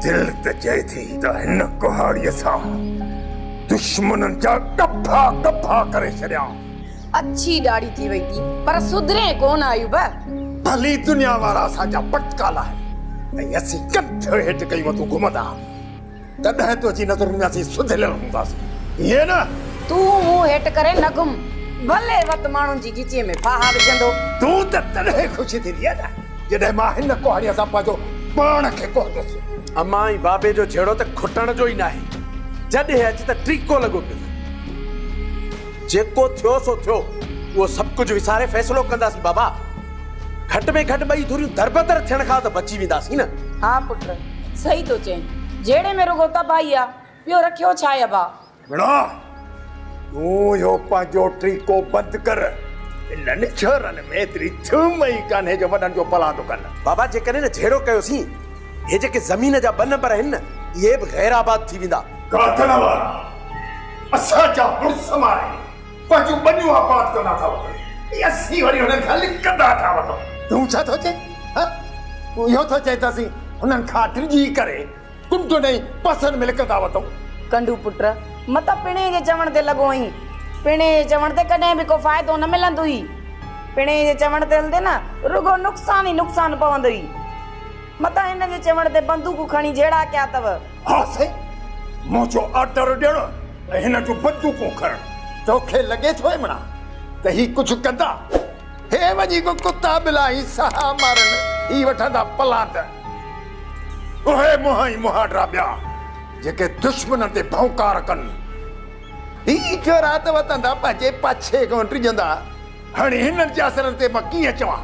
دل ته چئي ٿي ته هن ڪهاڙيء سان دشمنن جا ڪپها ڪپها ڪري ڇڏيان. اڇي ڏاڙهي ٿي وئي ٿي پر سڌرين ڪونه ايوب. ڀلي دنيا وارا اسان جا پٽڪا لاهين ۽ اسين ڪنڌ هيٺ ڪيون مٿو گهمندا تڏهن تنهنجي نظرن ۾ اسين سڌريل هونداسين ائين نه؟ تون منهن هيٺ ڪري نه گهم. ڀلي وت ماڻهن جي ڳچيء ۾ ڦاها وجهندو. تون ته تڏهن خوش ٿيندينء نه؟ جڏهن مان هن ڪهاڙيء سان پنهنجو پاڻ کي ڪوهندس. امان ۽ بابي جو جهيڙو ته کٽڻ جو ئي ناهي. جڏهن اچ ته ٽيڪو لڳو پيو اٿئي. جيڪو ٿيو سو ٿيو. اهو سڀ ڪجهه وساري فيصلو ڪنداسين بابا. گهٽ ۾ گهٽ ٻئي ڌريون دربدر ٿيڻ کان ته بچي وينداسين نه. ها پٽ صحيح ٿو چئين. جهيڙي ۾ رڳو تباهي آ. ٻيو رکيو ڇا آهي ابا. مڙا! تون اهو پنهنجو ٽريڪو بند ڪر. انهن ڇورن ۾ ايتري ٿيم ئي ڪانهي جو وڏن جو پلاند ڪن. بابا جيڪڏهن نه جهيڙو ڪيوسين، هي جيڪي زمين جا ٻه نمبر آهن نه، اهي به غير آباد ٿي ويندا. گادڻ وارا! اسان جا مڙس ماري پنهنجون ٻنيون آباد ڪندا ٿا وٺن ۽ اسين وري هنن کان لڪندا ٿا وٺون. تون ڇا ٿو چئين؟ هه! تون اهو ٿو چئين ته اسين هنن کان ڊڄي ڪري تون تنهنجي پسند ۾ لڪندا وتئون. ڪنڊو پٽ، متان پڻهين جي چوڻ تي لڳو هئين. پڻهين جي چوڻ تي ڪڏهن به ڪو فائدو نه ملندوئي. پڻهين جي چوڻ تي هلندي نه رڳو نقصان ئي نقصان پوندوئي. متان هن جي چوڻ تي بندوق کڻي جهيڙا ڪيا اٿئو. ها سائين، منهنجو آرڊر ڏيڻ ۽ هن جون بندوقون کڻڻ. توکي لڳي ٿو امڙا ته هي ڪجهه ڪندا؟ هي وڃي ڪو ڪتا ٻلا ۽ سها مارن هي وٺندا پلاند. اهي منهن ۽ مهاڏرا ٻيا جيڪي دشمنن تي ڀونڪار ڪن. هي جورات وتندا پنهنجي پڇي ڪونه ڊڄندا. هاڻي هنن جي اثرن تي مان ڪيئن چوان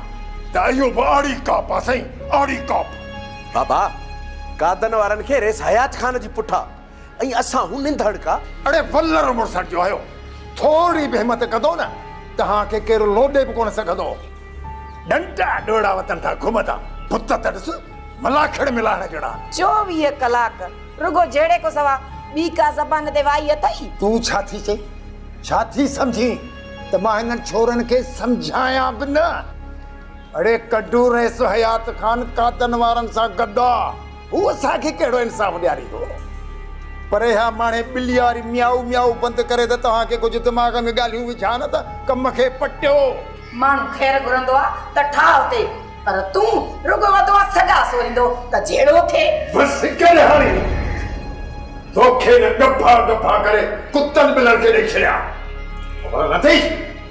ته اهو به آڙي ڪاپ آ سائين آڙي ڪاپ. بابا قادن وارن کي ريس حيات خان جي پٺان. ۽ اسان هو ننڌڙ ڪا. اڙي ولر مڙسڻ جو هيو، ٿورڙي به همت ڪندو نه، توهان کي ڪير لوڏي به ڪونه سگهندو. ڏنٽا ڏوڙا وتن ڏانهن گهمندا، بت ته ڏس، ملاکڙ ملاڻ جهڙا. چوويهه ڪلاڪ رڳو جهيڙي کان سوا ٻي ڪا زبان تي وائي اٿئي؟ تون ڇا ٿي چئين؟ ڇا ٿي سمجهين ته مان هنن ڇورن کي سمجهايان به نه؟ اڙي ڪڍو رئيس حيات خان قاتن وارن سان گڏ آ. هو اسان کي ڪهڙو انصاف ڏياريندو؟ پر اها ماڻهي ٻلي واري ميائو ميائو بند ڪري ته توهان کي ڪجهه دماغ ۾ ڳالهيون وجهان نه ته ڪم کي پٽيو. ماڻهو خير گهرندو آ ته ٺاهه اٿي پر تون رڳو وڌو آ سڳا سوريندو ته جهيڙو ٿئي. بس ڪر هاڻي توکي نه ڳڀا ڳڀا ڪري ڪتن ٻلن کي ڏئي ڇڏيان خبر نه اٿئي.